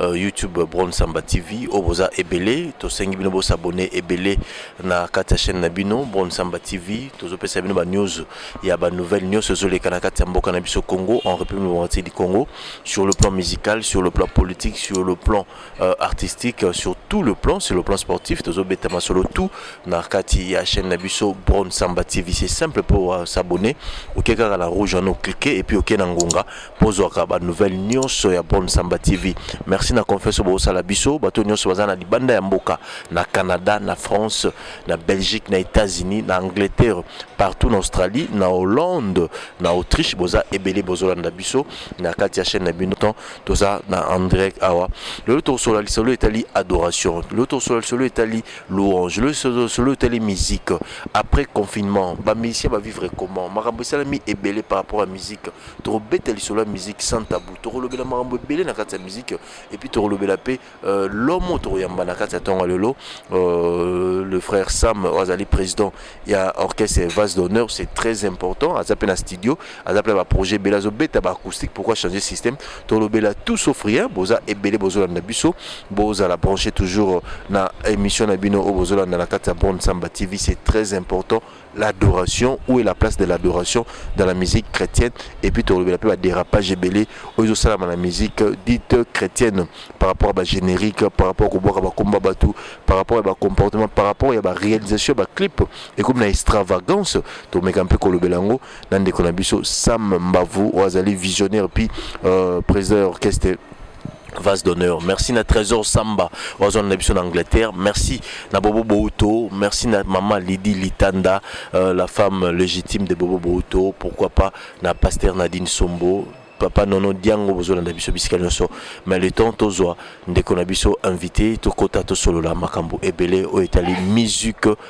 uh, YouTube Bron Samba TV oyo boza ebele tosengi bino bo s'abonner ebele na kati ya chaîne na bino Bron Samba TV tozopesa bino ba news ya ba nouvelles nyonso ezoleka na kati ya mboka na biso Congo en République démocratique du Congo sur le plan musical sur le plan politique sur le plan euh, artistique euh, sur tout le plan sur le plan sportif tozobeta masolo tout na kati ya chaîne na biso Bron Samba TV c'est simple pour uh, s'abonner oke kaka na rouge wana oklike et puis oke na ngonga Bozwaka ba nouvelles nionso ya Brom Samba TV. Merci na confiance oyo bozosala biso. Bato nionso baza na libanda ya mboka, na Canada, na France, na Belgique, na Etats-Unis, na Angleterre, partout na Australie, na Hollande, na Autriche, boza ebele bozolanda biso na kati ya chaîne na bino. Ton, toza na en direct awa. Lelo tokosola lisolo etali adoration. Lelo tokosola lisolo etali louange. Lelo tokosola lisolo etali musique. Après confinement, ba musiciens ba vivre comment? Makambo esalami ebele par rapport à musique. tokobeta lisolo ya musique sans tabou tokolobela makambo ebele na kati ya musique et puis tokolobela mpe euh, lomo tokoyamba na kati ya ntongo lelo euh, le frère sam oyo azali président ya orchestre vase d'honneur c'est très important aza mpe na studio aza mpe na baprojet ebele azobeta baacoustique pourquoi changer système tokolobela tout sauf rien boza ebele bozolanda biso bozala branché toujours na émission na bino oyo bozolanda na kati ya bonne samba tv c'est très important l'adoration où est la place de l'adoration dans la musique chrétienne et puis tolobela mpe badérapage ebele oyo ezosalama na musique dite chrétienne par rapport ya bagénérique par rapport kobwaka bakomba bato par rapport ya bacomportement par rapport ya baréalisation ya baclip ekomi na extravagance tomeka mpe kolobela yango na ndeko na biso sam mbavu oyo azali visionnaire puis euh, président ya orchestre vase d'honneur merci na trésor samba oyo na biso na angleterre merci na bobo bouto merci na maman lidi litanda euh, la femme légitime de bobo bouto pourquoi pas na pasteur nadine sombo papa nono diango bozolanda biso bisika nyonso mais le temps tozwa ndeko na biso invité tokota tosolola makambo ebele oyo etali musique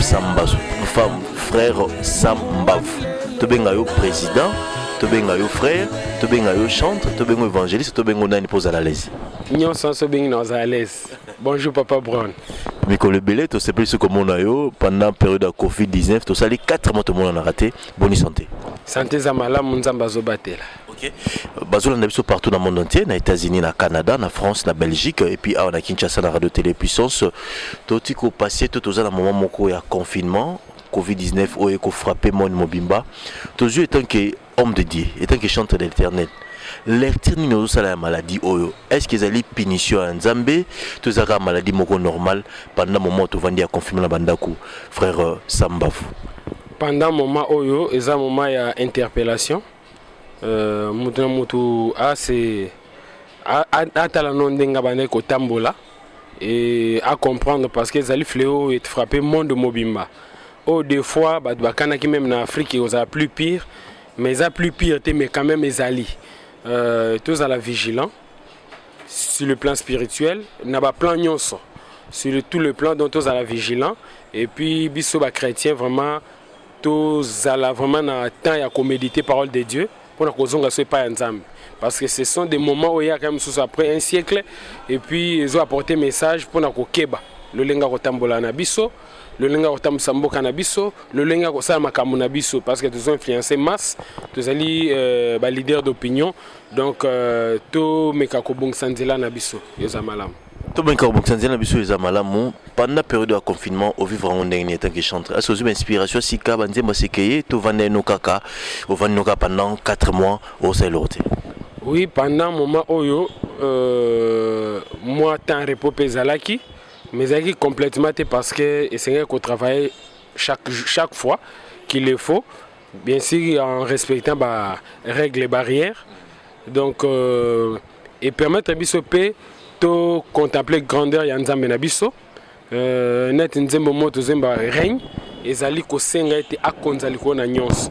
sambazo femme frère sambavu tobenga yo président tobenga yo frère tobenga yo chantre tobenga évangéliste tobenga nani mpo ozala lese nyonso nyonso obengi na ozala lese bonjour papa brown mikolo ebele tosepelisi komona yo pendant période ya covid-19 tosali 4 mois tomonanaka te boni santé santé eza malamu nzambe azobatela Ok, bazolanda biso partout na monde entier, na États-Unis, na Canada, na France, na Belgique, et puis awa na Kinshasa na Radio Télé Puissance. Toti ko passer tout aux na moment moko ya confinement, Covid-19 oyo ko frapper monde mobimba. Tozui étant que homme de Dieu, étant que chanteur de l'Éternel. Lecture nini ozosala ya maladie oyo? Est-ce que ezali punition ya Nzambe? Tozaka maladie moko normale pendant moment tovandi ya confinement na bandako. Frère euh, Sambavu. Pendant moment oyo eza moment ya interpellation. Euh, mutu na mutu ase atala no ndenge abandaki kotambola e acomprendre parce que ezali fleo oyo efrappe monde mobimba oyo oh, des fois bato bakanaki meme na afrique ekozala plus pire mais eza plus pire te mais quand même ezali euh, tozala vigilant sur le plan spirituel na baplan nyonso sur tout le plan donc tozala vigilant et puis biso bachrétien vraiment tozala vraiment na temps ya ko méditer parole de Dieu pona kozonga so epai ya Nzambe parce que ce sont des moments oyo eyaka mosusu après un siècle et puis ezo apporter message pona kokeba lolenge ya kotambola na biso lolenge ya kotambwisa mboka na biso lolenge ya kosala makambo na biso parce que tozo influence masse tozali euh, baleader d'opinion donc euh, tomeka kobongisa nzela na biso eza malamu tobongi kaka bokisa nzela na biso eza malamu panda periode ya confinement ovivre yango ndenge nini etanke chantre asi ozwi bainspiration sika banzembo asekeye tovanda yeno kaka ovandi no kaka pendant 4 mois osala eloko te oui pendant moment oyo euh, mwa temps repos mpe ezalaki mais ezalaki complètement te parce que esengeli kotravaille chaque, chaque fois qu'il le faut bien sûr en respectant barègle barrière donc euh, e permettre biso pe to contempler grandeur ya Nzambe na biso euh, net nzembo mo tozemba règne ezali kosenga ete akonza likolo na nyonso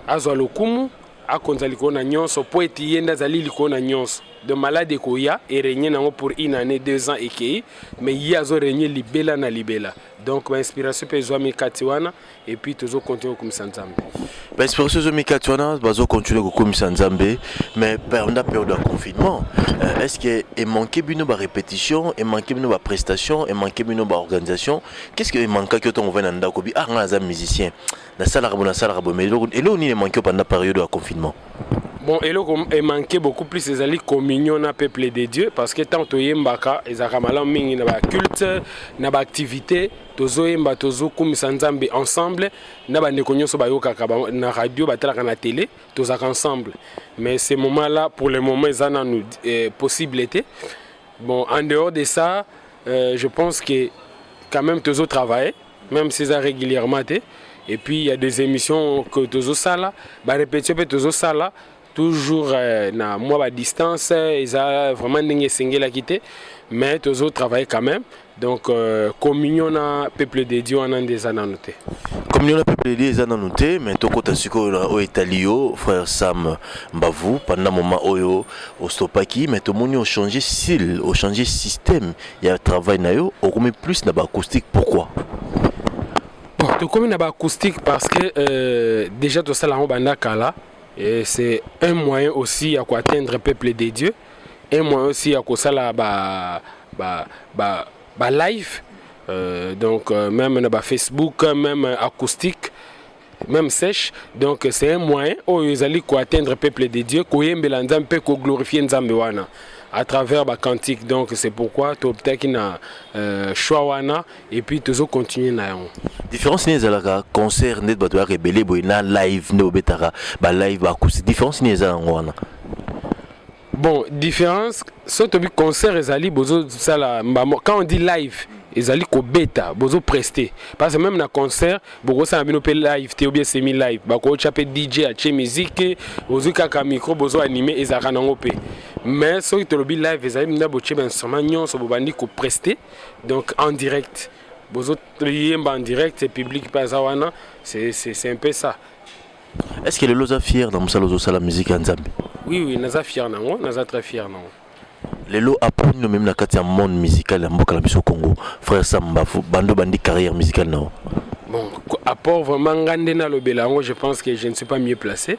azwa lokumu akonza likolo na nyonso mpo ete ye nde azali likolo na nyonso de malade ekoya eregne nango pour une année deux ans ekei mais ye azoregne libela na libela donc bainspiration mpe ezwami kati wana et puis tozo continuer kokumisa nzambe baexpression ezomi kati wana bazo continuer kokumisa nzambe mais pernda periode ya confinement euh, est ce que emanke bino barépétition emanke bino baprestation emanke bino baorganisation qu'est ce que emankaki yo ntango ovai na ndako bi ah ngai naza musicien nasalaka bo nasalaka bo mais eloko nini emanke yo panda periode ya confinement bon eloko emanke beaucoup plus ezali communion na peuple de dieu parce que ntango toyembaka ezalaka malamu mingi na baculte na baactivité tozoyemba tozokumisa nzambe ensemble na bandeko nyonso bayokaka na radio batalaka na tele tozalaka ensemble mais ce moment là pour le moment eza nanu eh, possible te bon en dehors de ça euh, je pense que quand même tozo travailler même si eza régulièrement te et puis il y a des émissions que tozo sala ba répétition pe tozo sala toujours euh, na mwa ba distance euh, eza vraiment ndenge esengelaki te mais tozo travailler quand même donc euh, communion na peuple de dieu wana nde eza nanu te communion na peuple de dieu eza nanu te mais tokota sikoyo na oyo etali yo frère sam mbavu pendant moment oyo ostopaki mais tomoni ochange style ochange système ya travail na yo okomi plus na baacoustique pourquoi bon tokomi na baacoustique parce que euh, déjà tosala yango banda kala Et c'est un moyen aussi à atteindre peuple de Dieu, un moyen aussi à kosala ba ba ba, ba live euh, donc euh, même na ba Facebook, même acoustique même sèche donc c'est un moyen oyo ezali koatteindre peuple de dieu koyembela nzambe mpe koglorifie nzambe wana à travers bacantique donc c'est pourquoi tobtaki na euh, choix wana et puis tozo continuer na yango différence nini ezalaka concert nde bato yaka ebele boye na live nde obetaka ba live ba acoustique différence nini eza yango wana bon différence so tobi concert ezali bozosala mbamo quand on dit live ezali kobeta bozo preste parce que même na concert bokosala bino mpe live te obie semi live bakotya mpe dj atie miziki ozwi kaka micro bozo anime ezalaka nango mpe mais soki tolobi live ezali mna botie bainstrument nyonso bobandi kopreste donc en direct bozo yemba en direct et public pe aza wana c'est c'est un peu ça est ce que lelo oza fier na mosala ozosala musique ya nzambe oui oui naza fier nango naza très fier nango lelo apres nino meme na kati ya monde musical ya mboka na biso congo frère sam mbafu bando bandi carrière musicale nao bon apport vraiment nga nde nalobela yango je pense que je ne suis pas mieux placé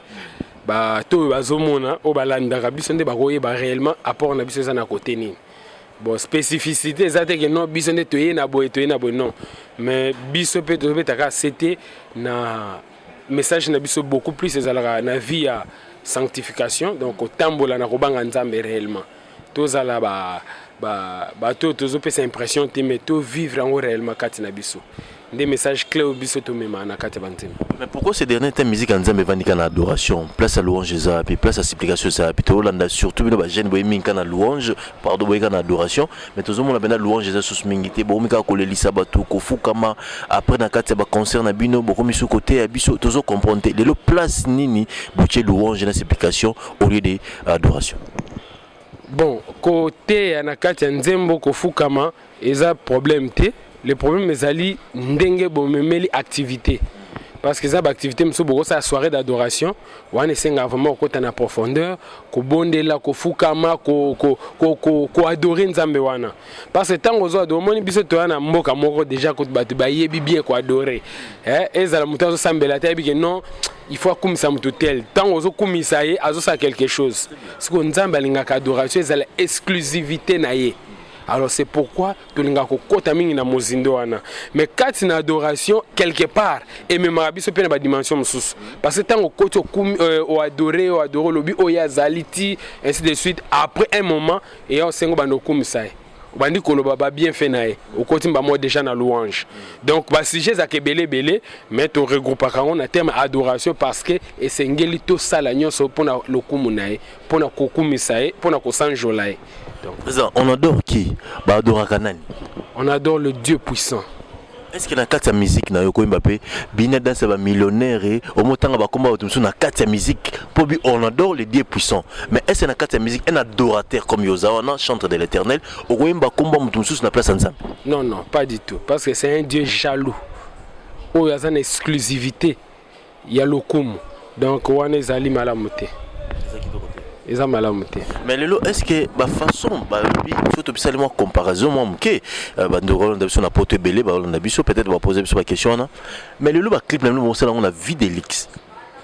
bato oyo bazomona oyo balandaka biso nde bakoyeba réellement apport na biso eza na kote nini bon spécificité eza te ke non biso nde toye na boye toye na boye non mais biso mpe tozobetaka sete na message na biso beaucoup plus ezalaka na vie ya sanctification donc kotambola na kobanga nzambe réellement tozala ba bato ba, tozopesa impression te mais tovivre yango réellement kati na biso nde message clé oyo biso tomema na kati ya banzembo mais pourquoi ces derniers temps musique ya nzambe evandi kaka na adoration place ya louange eza wapi place ya supplication eza wapi tolanda surtout bino bajeune boye mingi kaka na louange pardon boye kaka na adoration mais tozomona mpenza louange eza susu mingi te bokomi kaka kolelisa bato kofukama après na kati ya baconcert na bino bokomi susu koteya biso tozo comprendre te lelo place nini botie louange na supplication au lieu de adoration bon koteya na kati ya nzembo kofukama Eza problème te le problème ezali ndenge bomemeli activité parce que eza ba activité mosusu bokosala soirée d'adoration wana esengaka vraiment kokota na profondeur kobondela kofukama koadore ko, ko, ko, ko nzambe wana parce que ntango ozo adore omoni biso toya na mboka moko déjà bato bayebi bien koadore eh, ezala moto azosambela te ayebi ke non il faut akumisa moto tel ntango ozokumisa ye azosala quelque chose sikoyo nzambe alingaka adoration ezala exclusivité na ye Alors c'est pourquoi tolinga kokota mingi na mozindo wana. Mais kati na adoration quelque part ememaka biso mpe na ba dimension mosusu. Parce que ntango okoti okumi euh, oadore oadore olobi oyo ye azali ti ainsi de suite après un moment eya osengo banda okumisa ye obandi koloba ba bienfait na ye okoti mba moko déjà na louange donc ba sujet ezalaka ebele ebele mais to regroupaka yango na terme adoration parce que esengeli tosala nyonso mpo na lokumu na ye mpo na kokumisa ye mpo na kosanjola ye président on adore qui baadoraka nani on adore le dieu puissant est ce que na kati ya musique na yo koyemba mpe bina danse ya bamillionnaire e omotanga bakomba bato mosusu na kati ya musique mpo bi on adore le dieu puissant mais est ce que na kati ya musique un adorateur comme yo oza wana chantre de l'éternel okoyemba komba moto mosusu na place ya nzambe non non pas du tout parce que c'est un dieu jaloux oyo aza na exclusivité ya lokumu donc wana ezali malamu te eza malamu te mais lelo est ce que bafaçon balobi so tobisali mwa comparaison mwa moke euh, bandeko balonda biso na poto ebele balonda biso peut-être bapose biso baquestion wana mais lelo baclip na bino bosala yango na vie de lix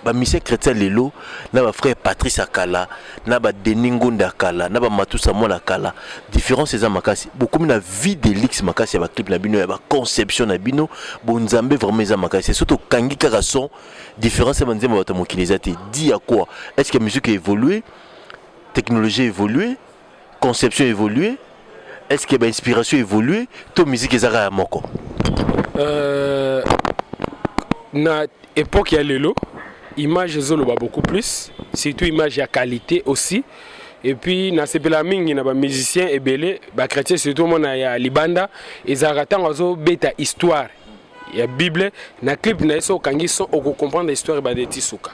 bamisie chrétien lelo na bafrère patrice akala na ba Denis Ngonde ya kala na ba Matusa mwana kala difference eza makasi bokomi na vie de luxe makasi ya ba clip na bino ya ba conception na bino bo nzambe vraiment eza makasi soki tokangi kaka son différence ya banzembo ya bato ya mokili eza te di ya quoi est ce que musique evolue technologie evolue conception évolue est ce que ba inspiration évolue to musique ezaka ya moko euh, na époque ya lelo image ezoloba beaucoup plus surtout image ya qualité aussi et puis na sepela mingi na ba musiciens ebele ba chrétiens surtout mona ya libanda ezalaka ntango azobeta histoire ya bible na clip na ye so okangi son okocomprendre histoire ebanda eti suka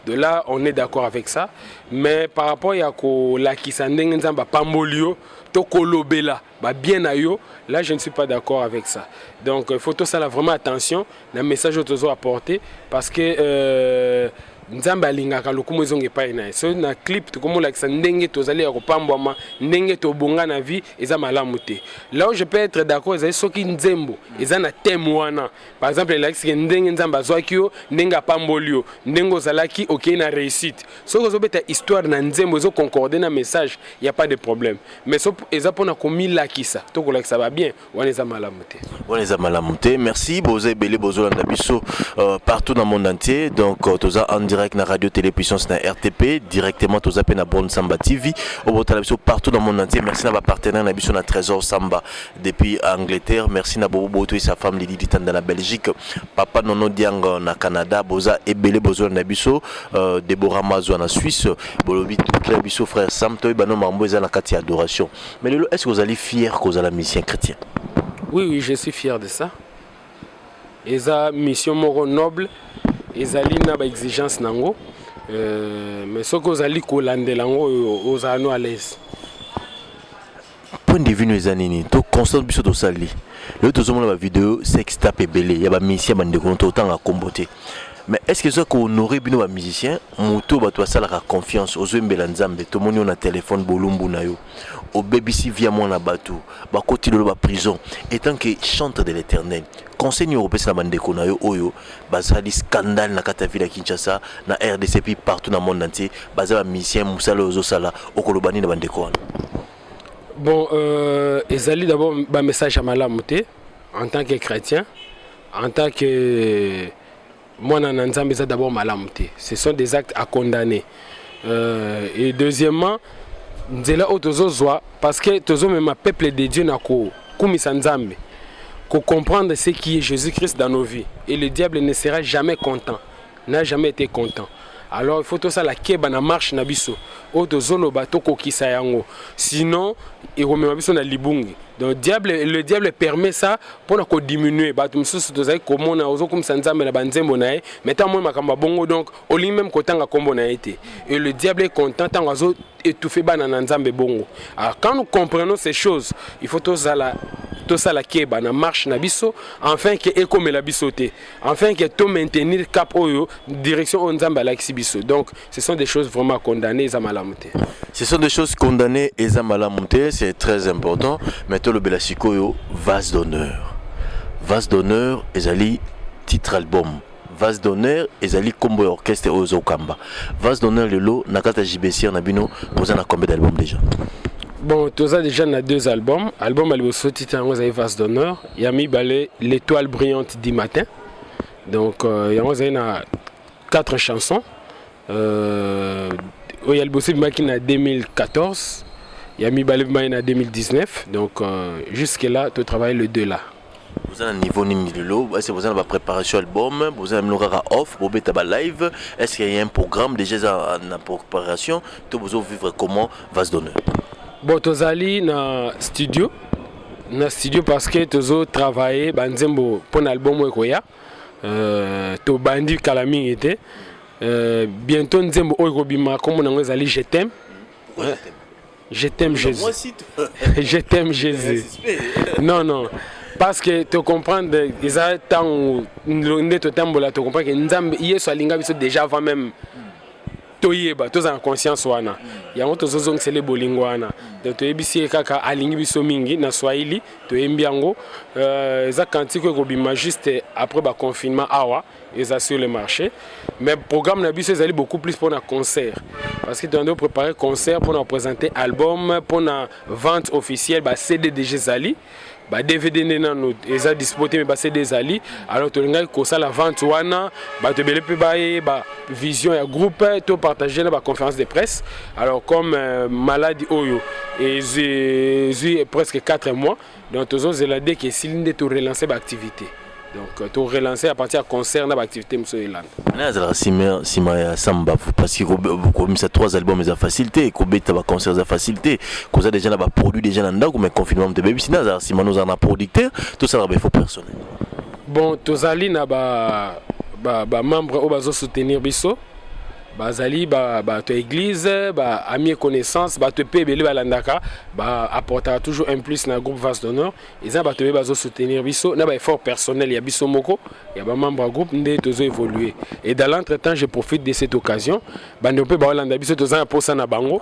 de là on est d'accord avec ça mais par rapport ya kolakisa ndenge nzambe apamboli yo to kolobela babien na yo là je ne suis pas d'accord avec ça donc il faut tosala vraiment attention na message oyo tozo apporte parce que euh, nzambe alingaka lokumu ezonga epai na ye so na clip tokomolakisa ndenge tozali ya kopambwama ndenge tobonga na vie eza malamu te là où je peux être d'accord ezali soki nzembo eza na thème wana Par exemple, elakisi ke ndenge Nzambe azwaki yo, ndenge apamboli yo, ndenge ozalaki okei na reussite. Soki ozobeta histoire na nzembo ezo concorder na message, il y a pas de problème. Mais so eza pona komilakisa to kolakisa ba bien, wana eza malamu te. Wana eza malamu te. Merci boza ebele bozolanda biso euh, partout na monde entier. Donc euh, toza en direct na Radio Télé Puissance na RTP, directement toza pe na Born Samba TV. Obotala biso partout na monde entier. Merci na ba partenaires na biso na Trésor Samba. Depuis Angleterre, merci na bobo boto et sa femme Lydie Ditanda na Belgique, papa Nono Diang na Canada, boza ebele bozo na biso, euh, Deborah Mazwa na Suisse, bolobi très biso frère Sam toy bano mambo eza na kati adoration. Mais lelo est-ce que vous allez fier que vous allez musicien chrétien? Oui oui, je suis fier de ça. Eza mission moko noble, ezali na ba exigence nango. Euh, mais ce que vous allez kolandela ngo oza no à l'aise. point de vue no eza nini to constat biso tosali lelo tozomona bavideo sex tape ebele ya bamusicien bandeko no totanga nkombo te mais est ce que eza kohonore bino bamusicien moto bato basalaka confiance ozoyembela nzambe tomoni yo na telefone bolumbu na yo obebisi via mwana bato bakoti lelo baprison etant que chantre de l'éternel conseil nini okopesa na bandeko na yo oyo basali scandale na kati ya ville ya Kinshasa na RDC puis partout na monde entier baza ba musiciens musala oyo ozosala okoloba nini na bandeko wana bon euh, ezali d'abord ba message ya malamu te en tant que chrétien en tant que mwana na nzambe eza d'abord malamu te ce sont des actes à condamner euh, et deuxièmement nzela oyo tozozwa parce que tozomema peuple de dieu na kokumisa nzambe kocomprendre ce qui est jésus christ dans nos vies et le diable ne sera jamais content n'a jamais été content alors il faut tosala keba na marche na biso oyo tozoloba tokokisa yango sinon ekomema biso na libungi donc diable, le diable permet ça mpo na kodiminue bato mosusu tozali komona ozokumisa nzambe na banzembo na ye mais ntango moi makambo ya bongo donc olingi meme kotanga kombo na ye te et le diable est content ntango azo étouffe bana na nzambe bongo alors quand nous comprenons ces choses il faut tozala tosala keba na marche na biso enfin ke ekomela biso te enfin ke to maintenir cap oyo direction oyo nzambe alakisi biso donc ce sont des choses vraiment condamnées eza malamu te ce sont des choses condamnées eza malamu te c'est très important mais tolobela sikoyo vase d'honneur vase d'honneur ezali titre album Vase d'honneur ezali kombo ya orchestre oyo ozo kamba. Vase d'honneur lelo na kati ya JBCR na bino boza na combien d'albums déjà? Bon, toza déjà na deux albums. Album à liboso titre yango ezali Vase d'honneur, ya mibale L'étoile brillante du matin. Donc euh, yango ezali na quatre chansons. Euh, oyo ya liboso ebimaki na 2014 ya mibale ebimaki na 2019 donc euh, jusque là to travaille le deux là boza na niveau nini lelo ese boza na bapréparation album boza na bino kaka off bobeta balive est ce qu'il y a un programme déjà eza na préparation to bozo vivre comment va se donner bon tozali na studio na studio parce que tozo travailler banzembo mpo na album oyo ekoya euh, tobandi kala mingi te Euh, bientôt nzembo oyo kobima kombo nango ezali je t'aime. Je t'aime Jésus. je t'aime Jésus. non non. parce que tocomprendre eza ntango nde totambola tocomprendre ke nzambe yesu alinga biso déjà avant même toyeba tozala na conscience wana yango tozozongisele bolingo wana donc toyebisi ye kaka alingi biso mingi na swahili toyembi yango euh, eza kantiko ekobima juste après baconfinement awa eza sur le marché mais programme na biso ezali beaucoup plus pour na concert parce que toyande préparer concert pour na présenter album pour na vente officielle ba cd déjà ezali ba dvd nde nano eza dispo te me ba cd ezali alors tolingaki kosala vente wana bato ebele mpe bayeba vision ya groupe to partage na baconférence de presse alors comme euh, maladi oyo ezwi presque 4 mois Donc tozo zela dès que esili nde to relancer ba activités. Donc euh, to relancer à partir ya concert na ba activités mosusu elanda. Nani azalaka sima sima ya Sam Bavu parce que ko- komisa trois albums eza facile te, kobeta ba concerts eza facile te, koza déjà na ba produits déjà na ndako mais confinement moto ebebisi nani azalaka sima nozala na producteur tosalaka ba effort personnel. Bon tozali na ba ba, ba membres oyo bazo soutenir biso bazali bato ya eglise ba ami et connaissance bato mpe ebele balandaka baapportaka toujours un plus na groupe vase d'honneur eza bato ebe bazosoutenir biso na baeffort personnel ya biso moko ya bamembre ya groupe nde tozo évoluer et dans l'entre temps je profite de cette occasion bande mpe baolanda biso toza na mposa na bango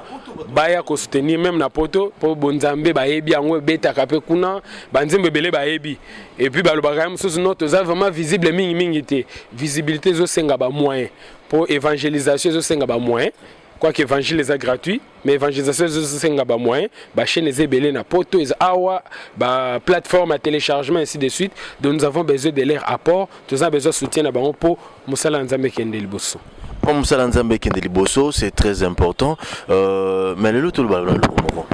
baya kosoutenir meme na poto mpo bonzambe bayebi yango ebetaka mpe kuna banzembo ebele bayebi et puis balobaka ya mosusu no toza vraiment visible mingi mingi te visibilité ezosenga bamoyen mpo évangélisation ezosenga bamoyen quoique évangile eza gratuit mais évangélisation ezosenga bamoyen bachaîne eza ebele na poto eza awa baplateforme ya téléchargement ainsi de suite donc nous avons besoin de leur apport toza besoin soutien na bango mpo mosala ya nzambe ekende liboso mpo mosala ya nzambe ekende liboso c'est très important euh, mais lelo tolobala na loko moko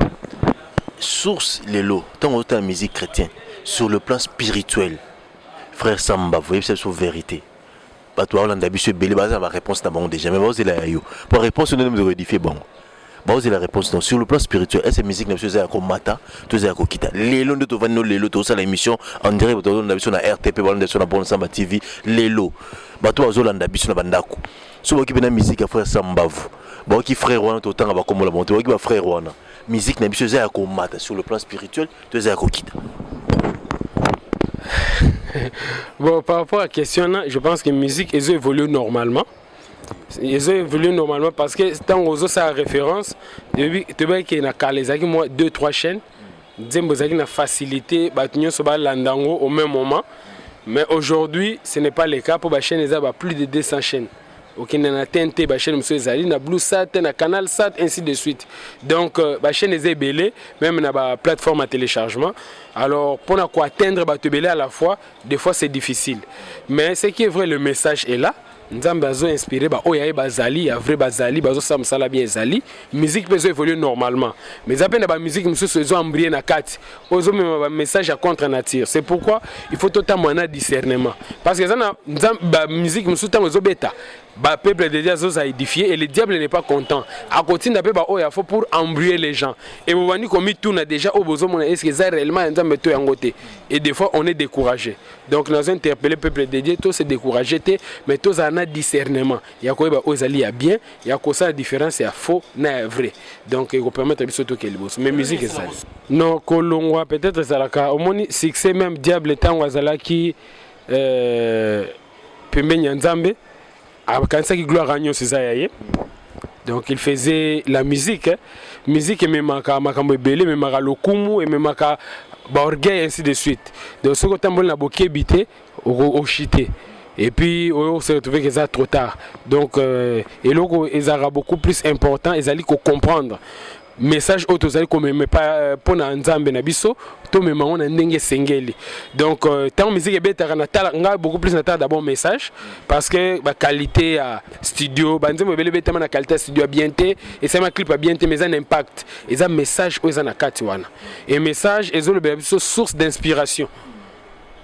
source lelo ntango ozotala musique chrétien sur le plan spirituel frère sam bavu oyebisa biso vérité bato baolanda biso ebele baza na baréponse na bango déjà mais baozela ya yo mpo réponse nde mozo koedifie bango baozela réponse non sur le plan spirituel ese musique na biso eza ya komata to eza ya kokita lelo nde tovandi no lelo tozosala émission en direct bato bazolanda biso na rtp balanda biso na bon samba tv lelo bato bazolanda biso na bandako so baoki mpe na musique ya frère sam bavu baoki frère wana totanga bakombola bango te baoki bafrère wana musique na biso eza ya komata sur le plan spirituel to eza ya kokita bon par rapport à question na je pense que musique ezo évolue normalement ezo évolue normalement parce que ntango ozosala référence toyebaki ke na kala ezalaki mwa 2 3 chaîne nzembo ezalaki na facilité bato nyonso balanda yango au même moment mais aujourd'hui ce n'est pas le cas mpo bachaîne eza ba plus de 200 chaînes okende na tnt bachaine mosusu ezali na blue sat na canal sat ainsi de suite donc euh, bachaine eza ebele même na baplateforme ya téléchargement alors mpo na koatteindre bato ebele à la fois des fois c'est difficile mais ce qui est vrai le message est là nzambe azo inspire baoyo ya ye bazali ya vrai bazali bazosala mosala bien ezali musique peut évoluer normalement mais ça peine ba musique mususu ezo embrouiller na kati ozo mema ba message à contre nature c'est pourquoi il faut totambola na discernement parce que ça na ba musique mususu tango ezo beta ba peuple de Dieu zoza édifié et le diable n'est pas content akotinda pe ba oya faut pour embrouiller les gens et bobandi komi tuna déjà au bozo mona est-ce que ça réellement un nzambe to yango te et des fois on est découragé donc nous interpeller peuple de Dieu tous se décourager mais tous en a discernement ya koyeba ozali ya bien ya kosala différence ya faux na ya vrai donc ekopermettre biso toke liboso mais musique ezali no kolongwa peut-être ezalaka omoni succès même diable ntango azalaki euh, pembeni ya nzambe akanisaki gloire ya nyonso eza ya ye donc il faisait la musique hein. musique ememaka makambo ebele ememaka lokumu ememaka baorgueil ainsi de suite donc soki otamboli na bokebi te ochite et puis oyo se retrouver que ça trop tard donc euh, eloko ezalaka beaucoup plus important ezali ko comprendre message oyo tozali komema euh, mpo na nzambe na biso tomema yango na ndenge esengeli donc euh, ntango miziki ebetaka natala ngai beaucoup plus natala d'abord message parce que baqualité ya studio banzembo ebele ebetama na qualité ya studio ya bien te esalama clip ya bien te mais eza na impact eza message oyo eza na kati wana e message ezolobela biso source d'inspiration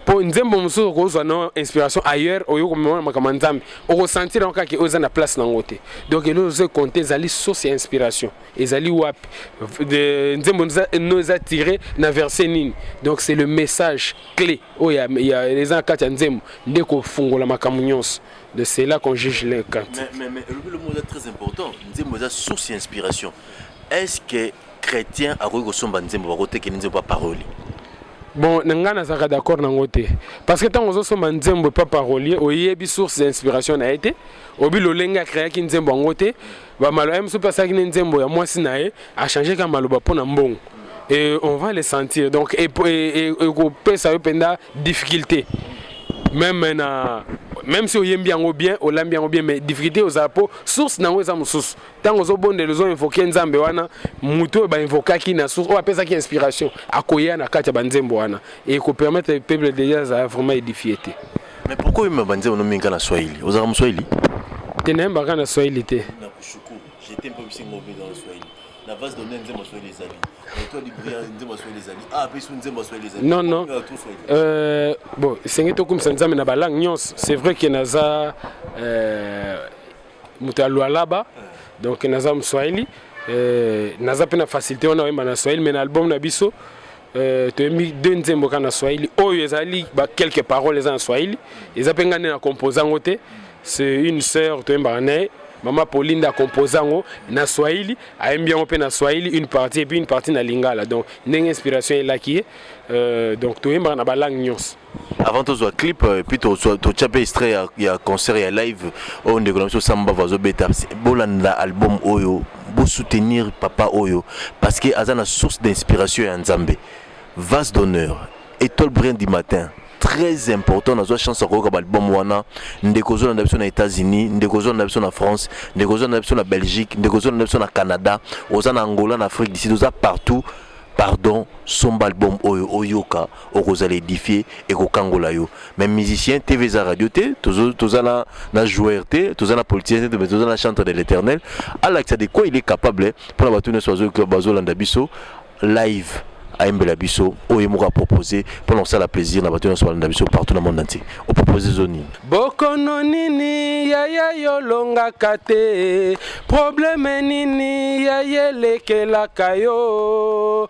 po nzembo mosusu okozwa no inspiration ailleurs oyo okomemona makambo ya nzambe okosentir yango kaka oyo eza na place nango te donc eloko ozo compte ezali source ya inspiration ezali wapi nzembo no eza tire na verset nini donc c'est le message clé oyo eza na kati ya nzembo nde kofungola makambo nyonso de cela qu'on juge le cant mais, mais, mais, le mot très important nzembo eza source ya inspiration est ce que chrétien akoki kosomba nzembo bakotekeli nzembo ya paroli bon na ngai nazalaka d'accord nango te parce que ntango ozosomba nzembo epa parolier oyebi source ya inspiration na ye te obi lolenge akreaki nzembo yango te bamaloba ye mosusu mpe asalaki ne nzembo ya mwasi na ye achangeka maloba mpo na mbongo et on va les sentir donc ekopesa yo mpenza difficulté meme na même si oyembi yango bien olambi yango bien mais difficulté ozala mpo source na yango eza mosusu ntango ozobondela ozo invoke nzambe wana moto oyo bainvokaki na source oyo apesaki inspiration akoya na kati ya banzembo wana ekopermettre peuple deja azala vraiment édifie te mais pourquoi oyemba banzembo nominga na swahili ozalaka moswahili te nayembaka na swahili te na vase donne nzembo ya swahili ezali toi libria nzembo ya swahili ezali a mpe su nzembo ya swahili ezali non non euh, bon esengeli tokumisa nzambe na balangue nyonso c'est vrai ke naza euh, moto ya lualaba donc naza moswahili euh, naza mpe na facilité wana oyemba na swahili mais na album na biso euh, toyembi deux nzembo kaka na swahili oyo ezali ba quelques paroles eza na swahili eza mpe ngai nde na compose yango te c'est une sœur toyembaka na ye mama pauline nde akompoza yango na swahili ayembi yango mpe na swahili une partie epuis une partie na lingala donc ndenge inspiration elaki ye euh, donc toyembaka na balangue nyonso avant tozwa clip euh, puis totya mpe extrait ya, ya concert ya live oyo ndeko na biso sambava azobeta bolanda album oyo bosoutenir papa oyo parce que aza na source d'inspiration ya nzambe vase d'honneur étoile brin du matin très important nazwa chance ya koyoka baalbum wana ndeko ozolanda biso na états-unis ndeko ozolanda biso na france ndeko ozolanda biso na belgique ndeko ozolanda biso na canada oza na angola na afrique du sud oza partout pardon somba album oyo oyoka okozala edifie ekokangola yo mais musicien tv eza radio te toza na, na joueur te toza na politicien te mais toza na chantre de l'éternel alakisa de quoi il est capable mpona bato nyonso bazolanda biso live ayembela biso oyo ye moko apropose mpona kosala plaisir na bato nyonso balanda biso partout na monde entier opropose zo nini bokono nini yaya yolongaka te probleme nini yaya elekelaka yo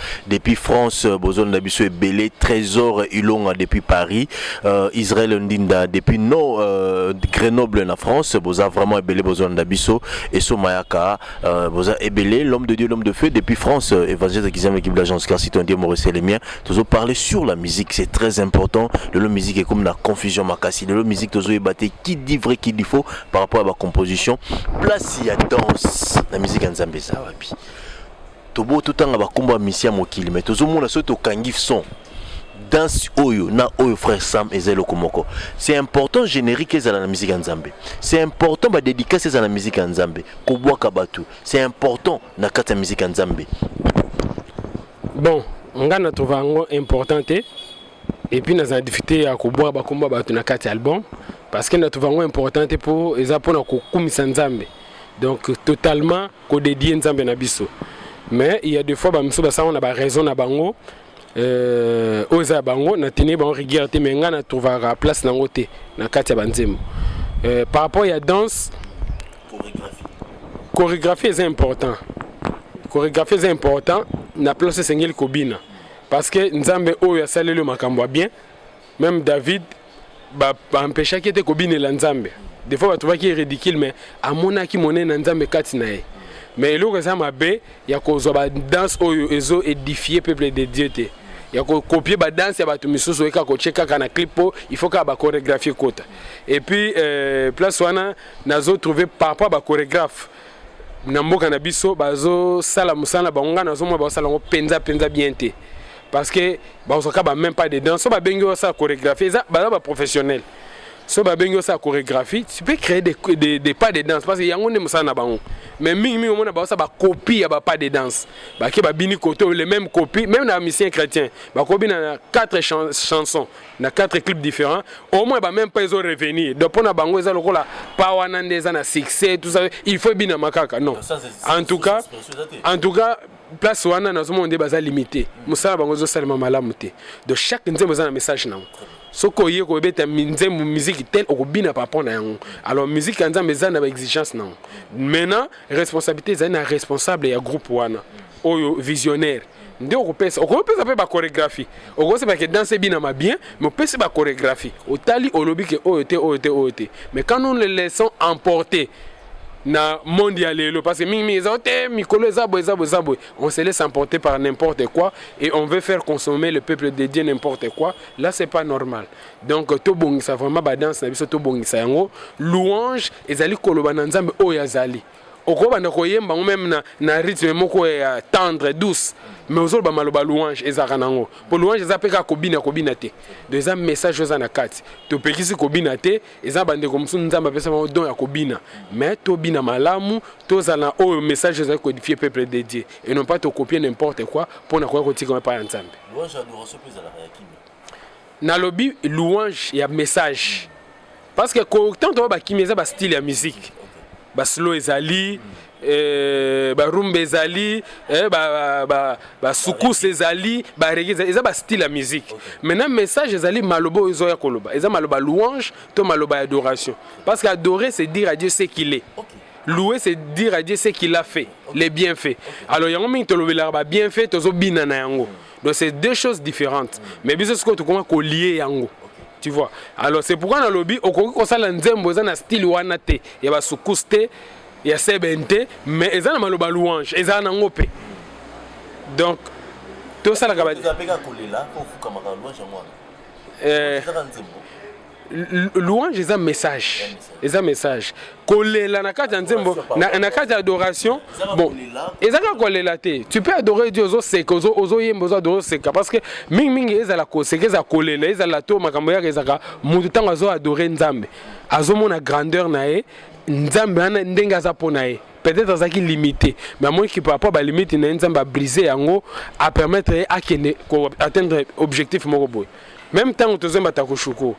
depuis France euh, bozonda biso ebele Trésor Ilonga depuis Paris euh, Israël Ndinda depuis no euh, Grenoble na France boza vraiment ebele bozonda biso Esso Mayaka euh, boza ebele l'homme de Dieu l'homme de feu depuis France euh, Évangile Kizam l'équipe d'agence car si ton Dieu Maurice les miens tozo parler sur la musique c'est très important de la musique est comme la confusion makasi de la musique tozo ebaté qui dit vrai qui dit faux par rapport à la composition place il y a danse la musique en Zambie ça va bien Tobo totanga ba kombo ya misi ya mokili mais tozo mona soki tokangi son danse oyo na oyo frère Sam eza eloko moko. C'est important générique ezala na musique ya Nzambe. C'est important ba dédicace ezala na musique ya Nzambe. Kobwaka batu, c'est important na kati ya musique ya Nzambe. Bon, nga na trouve yango important te. Et puis nazala difficulté ya kobwaka ba kombo ya batu na kati ya album parce que na trouve yango important te po eza pona kokumisa Nzambe. Donc totalement ko dedier nzambe na biso mais il y a des fois ba misusu basango na ba raison na bango euh, oyo eza ya bango na tenir bango rigueur te mais ngai na trouvaka place nango te na kati ya banzembo euh, par rapport ya danse chorégraphie eza important chorégraphie eza important na place esengeli kobina parce que nzambe oyo asaleli yo makambo ya bien Meme David ba empêchaki ye te kobinela Nzambe. Des fois batubaki ye ridicule mais amonaki monene na Nzambe kati na ye. Mais eloko eza mabe ya kozwa ba danse oyo ezo edifier peuple de Dieu te. ya kokopie badanse ya bato misusu oyeka kotie kaka na clip mpo il faut kaka bachoregraphe ekota et puis euh, place wana nazo trouve par rapport ya bachoregraphe na mboka na biso bazosala mosala na bango ngai nazomona bazosala yango mpenza mpenza bien te parce que bazwaka ba même pas dedans so babengi yo osala chorégraphie eza baza baprofessionnel so babengi osala chorégraphie tu peux créer des, des, des pas de danse parce que yango nde mosala na bango mais mingi mingi omona baosa bacopie ya bapas de danse bake babini koto le même copie même na musicien chrétien bakobina na quatre chan chansons na quatre clips différents au moins bameme pas ezo revenir donc mpo na bango eza lokola pa wana nde eza na succès tout ça il faut ebinama kaka non en tout cas en tout cas place wana nazomona nde baza limite mosala bango ezosalema malamu te donc chaque nzembo eza na message na yango soki oye kobeta nzembo miziki tel okobina par rapport na yango alors miziki ya nzambe eza na baexigence na yango maintenant responsabilité ezali na responsable ya groupe wana oyo visionnaire nde okopesa okopesa mpe bachoregraphie okosema ke danse ebinama bien mais opesi bachoregraphie otali olobi ke oyo te oyo te oyo te mais quand nous le laissons emporter na monde ya lelo parce que mingi mingi eza te mikolo eza boye eza boye eza boye on se laisse emporter par n'importe quoi et on veut faire consommer le peuple de Dieu n'importe quoi là c'est pas normal donc tobongisa vraiment badanse na biso tobongisa yango louange ezali koloba na nzambe oyo azali okobanda koyemba yango meme na, na rythme moko ya tendre douce mais ozoloba maloba louange ezalaka nango mpo louange eza mpe kaka kobina kobina te donc eza message oyo eza na kati topekisi kobina te eza na bandeko mosusu nzambe apesa bango don ya kobina mais tobina malamu tozala na oyo message ezali kodifie peuple de dieu et non pas tokopie n'importe quoi mpo na koya kotikama epai ya nzambe nalobi louange ya message parce que kotanto oyo bakimi eza bastyle ya musique baslo ezali Eh, barumba ezali eh, basukuse ezali barege ezali eza bastyle ya musique maintenant message ezali maloba oyo ezoya koloba eza maloba louange to maloba ya adoration parce que adorer c'est dire à dieu ce qu'il est okay. louer c'est dire à dieu ce qu'il a fait okay. les bienfaits okay. alors yango mingi tolobelaka babienfait tozobina na yango donc c'est deux choses différentes mm. mais biso sikoyo tokoma kolie yango okay. tu vois alors c'est pourquoi nalobi okoki kosala nzembo eza na style wana te ya basukuse te ya seben te mais eza na maloba louange ezala na ngo pe donc tosalaka ba eh, louange eza message eza message kolela na kati ya nzembo na kati ya adoration bon eza kaka kolela te tu peux adorer dieu ozoseka ozoyemba ozo adore oseka parce que mingimingi ezala koseka ezala kolela ezala to makambo yaka ezalaka moto ntango azo adore nzambe azomona grandeur na ye nzambe wana ndenge aza mpo na ye peut-être azalaki limité mais amoniki par rapport balimite na ye nzambe abrise yango apermettre ye akende koatteindre objectif moko boye meme ntango tozemba takushuku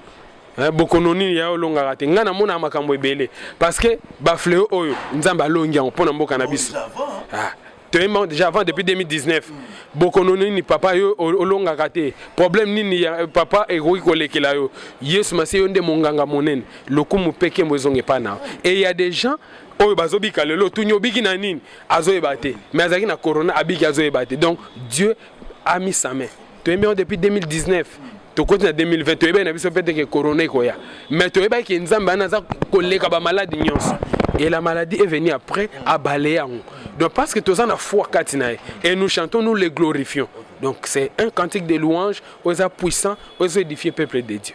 eh, bokono nini ya olongaka te ngai namonaka makambo ebele parce que bafleo oyo nzambe alongi yango mpo na mboka na biso ah. toyemba déjà avant depuis 2019 bokono nini papa yo olongaka te problème nini ya papa ekoki kolekela yo yesu masiya yo nde monganga monene lokumu mpe nkembo ezonga epai na yo et ya des gens oyo bazobika lelo tuni obiki na nini azoyeba te mais azalaki na corona abiki azoyeba te donc dieu amisame toyembi yango depuis 2019 tokoti na 2020 toyebaki na biso mpe te ke corona ekoya mais toyebaki ke nzambe wana aza koleka bamaladi nyonso et la maladie est venue après abale yango donc parce que toza na foi kati na ye et nous chantons nous les glorifions donc c'est un cantique de louange oyo eza puissant oyo ezo édifie peuple de dieu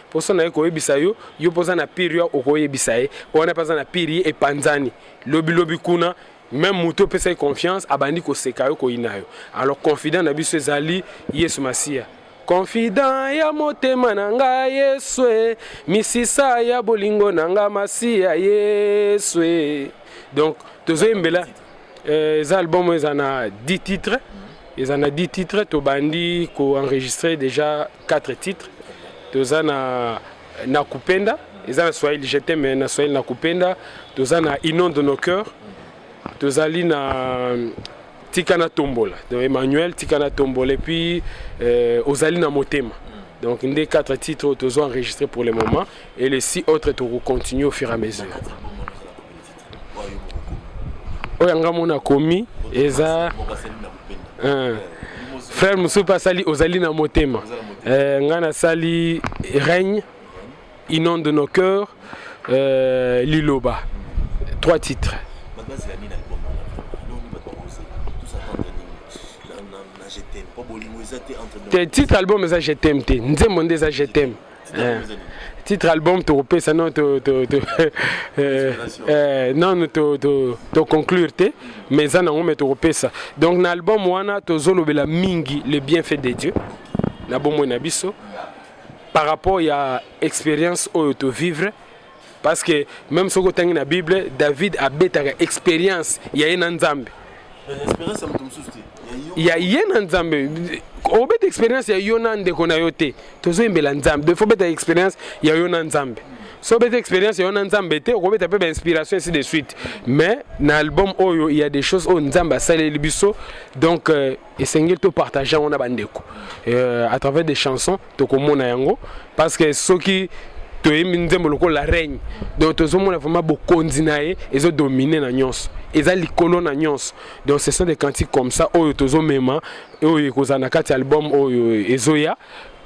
poso na ye koyebisa yo yo mpoza na pire yo okoyebisa ye wana mpe aza na pire ye epanzani lobilobi kuna meme moto opesa ye confiance abandi koseka yo koyina yo alors confident na biso ezali yesu masiya confident ya motema na nga yesu e, misisa ya bolingo na nga masiya yesu e. donc tozoyembela Euh, eza album eza na 10 titres eza na 10 titres tobandi koenregistre déjà 4 titres toza na na kupenda eza na swahili je t'aime na swahili na kupenda toza na inon de nos cœurs tozali na euh, tika na tombola donc emmanuel tika na tombola epuis euh, ozali na motema donc nde 4 titres oyo tozo enregistre pour le moment et les 6 autres tokocontinue au fur et à mesure oyo yanga mona komi eza eh. frère mosusu mpe asali ozali na motema eh, ngai nasali règne inonde nos cœurs euh, liloba trois titres te titre album eza je t'aime te nzembo nde eza je t'aime Eh, titre album tokopesa no nanu toconclure te mais eza nango me tokopesa donc na album wana tozolobela mingi le bienfait de dieu na bomoi na biso par rapport ya expérience oyo tovivre parce que même soki otangi na bible david abetaka expérience ya ye na nzambe ya ye na nzambe obeta expérience ya yo na ndeko na yo te tozoyembela nzambe donc fobeta expérience ya yo na nzambe so obeta expérience ya yo na nzambe te okobeta mpe bainspiration ainsi de suite mais na album oyo ya des choses oyo nzambe asaleli biso donc euh, esengeli topartage yango na bandeko euh, à travers des chansons tokomona yango parce que soki toyembi nzembo lokola règne donc tozomona vraiment bokonzi na ye ezodomine na nyonso eza likolo na nyonso donc ce sont des cantiques comme ça oyo tozomema oyo ekozala na kati ya album oyo ezoya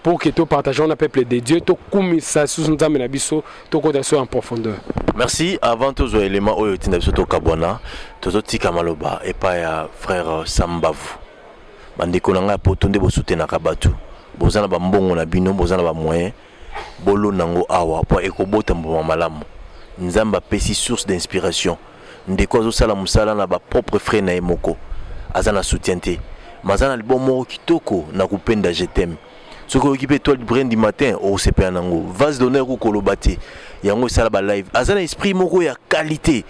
pour que to partageons na peuple de Dieu to kumisa sous nzambe na biso to kota so en profondeur merci avant tous les éléments oyo tinda biso to kabwana tozo tika maloba epa ya frère Sambavu Ba ndeko na nga ya poto nde bo soutenaka batu boza na ba mbongo na bino boza na ba moyen bolona ngo awa po ekobota mbuma malamu nzambe apesi source d'inspiration ndeko azo sala musala na ba propre frais na ye moko aza na soutien te maza na album moko kitoko na kupenda je t'aime soki oyoki pe etoile du brin du matin okosepela na ngo vase d'honneur kuko loba te yango esala ba live aza na esprit moko ya qualité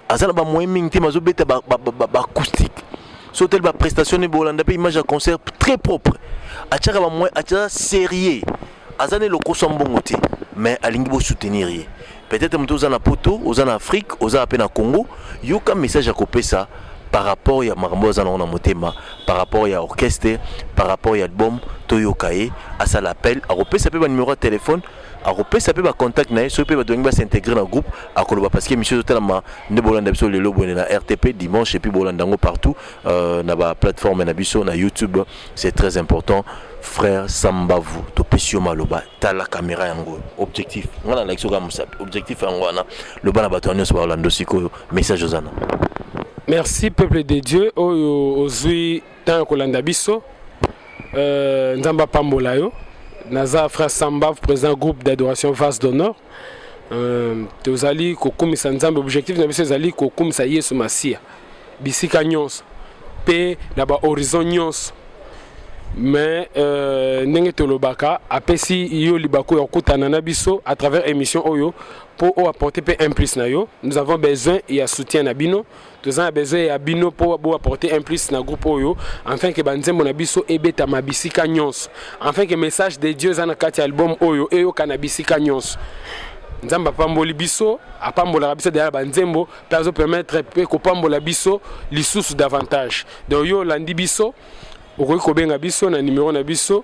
aza na bamoyen mingi te bazobeta baacoustique so otali baprestation ne bolanda mpe image ya concert très propre atyaka bamoyen atya sérieux aza nde lokoso ya mbongo te mais alingi bosoutenir ye peut-être moto oza na poto oza na afrique oza mpe na congo yoka message ya kopesa par rapport ya makambo oyo aza nango na motema par rapport ya orchestre par rapport ya album toyoka ye asala appel akopesa mpe banimero ya telefone akopesa pe ba contact na ye soki pe bato balingi ba s'integrer na groupe akoloba parce que emission ezotalama nde bolanda biso lelo boye na rtp dimanche epuis bolanda yango partout euh, na ba plateforme na biso na youtube c'est très important frère sambavu topesi yo maloba tala kamera yango objectif ngai nalakisi oka mosapi objectif yango wana loba na bato ya nyonso baolanda sikoyo message ozana merci peuple de dieu oyo ozwi temps ya kolanda biso euh, nzambe apambola yo naza frère sambav président groupe d'adoration vase d'honneur euh, tozali kokumisa nzambe objectif na biso ezali kokumisa yesu masiya bisika nyonso mpe na bahorizon nyonso mais euh, ndenge tolobaka apesi yo libaku ya kokutana na biso à travers émission oyo mpo oyo apporte mpe implice na yo nous avons besoin ya soutien na bino Toza na besoin ya bino po bo apporter un plus na groupe oyo enfin que ba nzembo na biso ebetama bisika nyonso enfin que message de Dieu eza na kati ya album oyo eyokana bisika nyonso nzambe apamboli biso apambolaka biso deya na banzembo mpe azopermettre mpe kopambola biso lisusu davantage donc yo olandi biso okoki kobenga biso na numero na biso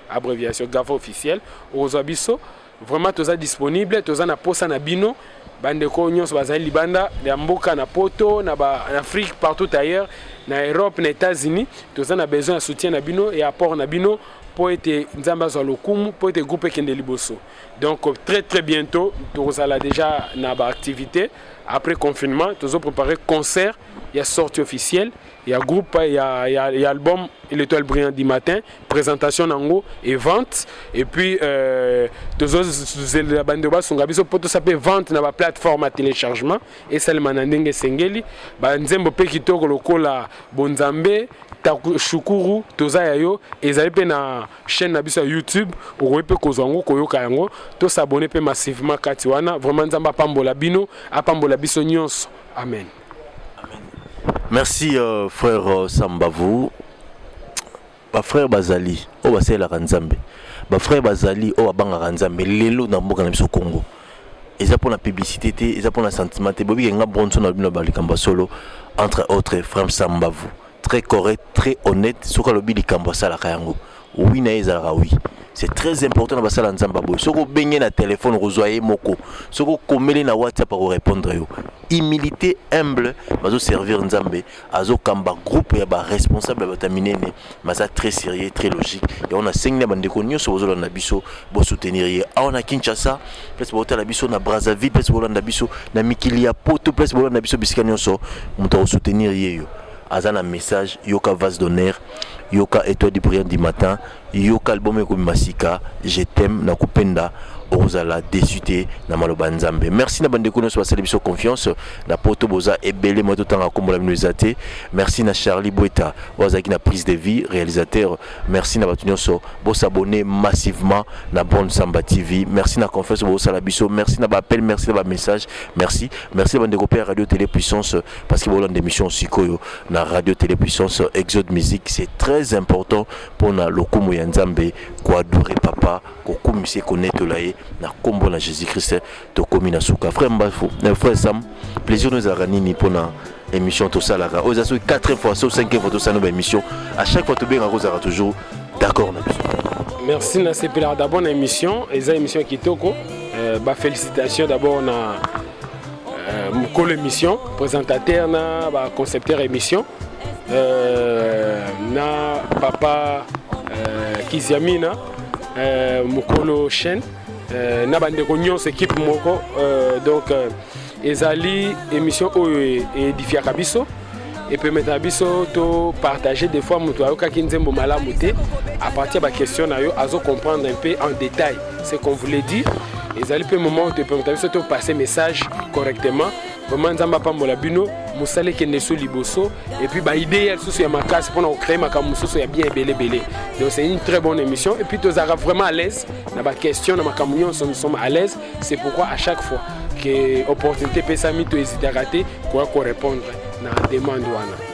abreviation gava officiel okozwa biso vraiment toza disponible toza na posa na bino bandeko nyonso bazali libanda ya mboka na poto na baafrique partout ailleurs na europe na états-unis toza na besoin ya soutien na bino ya apport na bino mpo ete nzambe azwa lokumu mpo ete groupe ekende liboso donc très très bientôt tokozala déjà na baactivité après confinement tozo préparer concert ya sortie officielle Il y a groupe, il y a, il y a, il y a album L'étoile brillante du matin, présentation nango et vente. Et puis, euh, la bande de base, on a poto sapé vente na ba plateforme à téléchargement et ça le manandenge sengeli. Ba nzembo pe kitoko lokola Bonzambe, shukuru toza ya yo ezali mpe na chaîne na biso ya youtube okoki mpe kozwa yango koyoka yango tosabone mpe massivement kati wana vraiment nzambe apambola bino apambola biso nyonso amen Merci euh, frère euh, Sambavu. Ba frère bazali oyo basalelaka Nzambe. Ba frère bazali oyo babangaka Nzambe lelo na mboka na biso Congo. Eza mpo na publicité te, eza mpo na sentiment te. Bobi kenga bronson na bino ba likambo ya solo entre autres frère Sambavu. très correct très honnête soki alobi likambo asalaka yango wi na ye ezalaka wi c'est très important na basala nzambe boye soki obenge na telefone okozwa ye moko soki okomeli na whatsapp akorépondre yo humilité humble bazoservir nzambe azokamba groupe ya baresponsable ya bato ya minene maza très sérieux très logique yango nasengi na bandeko nyonso bozolanda biso bo soutenir ye awa na Kinshasa place botala biso na Brazzaville place bolanda biso na mikili ya poto place bolanda biso bisika nyonso moto akosoutenir ye yo aza na message yoka vase d'honneur yoka étoile du brillant du matin yoka album ekobima sika je t'aime na kupenda okozala desu te na maloba ya nzambe merci na bandeko nyonso basali biso confiance na poto boza ebele moye totanga akombola bino eza te merci na charlie bweta oyo azalaki na prise de vie réalisateur Merci na batu nyonso bo s'abonner massivement na Bonne Samba TV. Merci na confiance bo sala biso. Merci na ba appel, merci na ba message. Merci. Merci bande ko à Radio Télé Puissance parce que bo lande émission sikoyo na Radio Télé Puissance Exode Musique c'est très important pour na lokumu ya Nzambe ko adorer papa ko kumise ko netolaye na kombo na Jésus-Christ. tokomi na suka frère mbafu eh, frère sam plaisir no ezalaka nini mpo na émission tosalaka oyo eza soki 4 fois so 5 fois tosala ba émission à chaque fois tobengaka kozalaka toujours d'accord na biso merci nasepelaka d'abord na émission eza émission kitoko euh, ba félicitation d'abord na euh, mokolo émission présentateur na ba concepteur émission euh, na papa euh, kiziamina euh, mokolo chaîne Euh, na bandeko nyonso ekipe moko euh, donc euh, ezali émission oyo edifiaka biso epemetaka biso topartage des fois moto ayokaki nzembo malamu te à partir ya baquestion na yo azo comprendre un peu en détail ce qu'on voulait dire ezali mpe moment oyo toepemetaka biso topasse message correctement vraiment nzambe apambola bino mosala ekende so liboso epuis baidee ya lisusu ya makasi mpona kocree makambo mosusu ya bien ebele ebele donc c'est une très bonne émission epuis tozalaka vraiment à l'aise na baquestion na makambo nyonso nous sommes à l'aise c'est pourquoi à chaque fois ke opportunité epesami toezitaka te koya korépondre na demande wana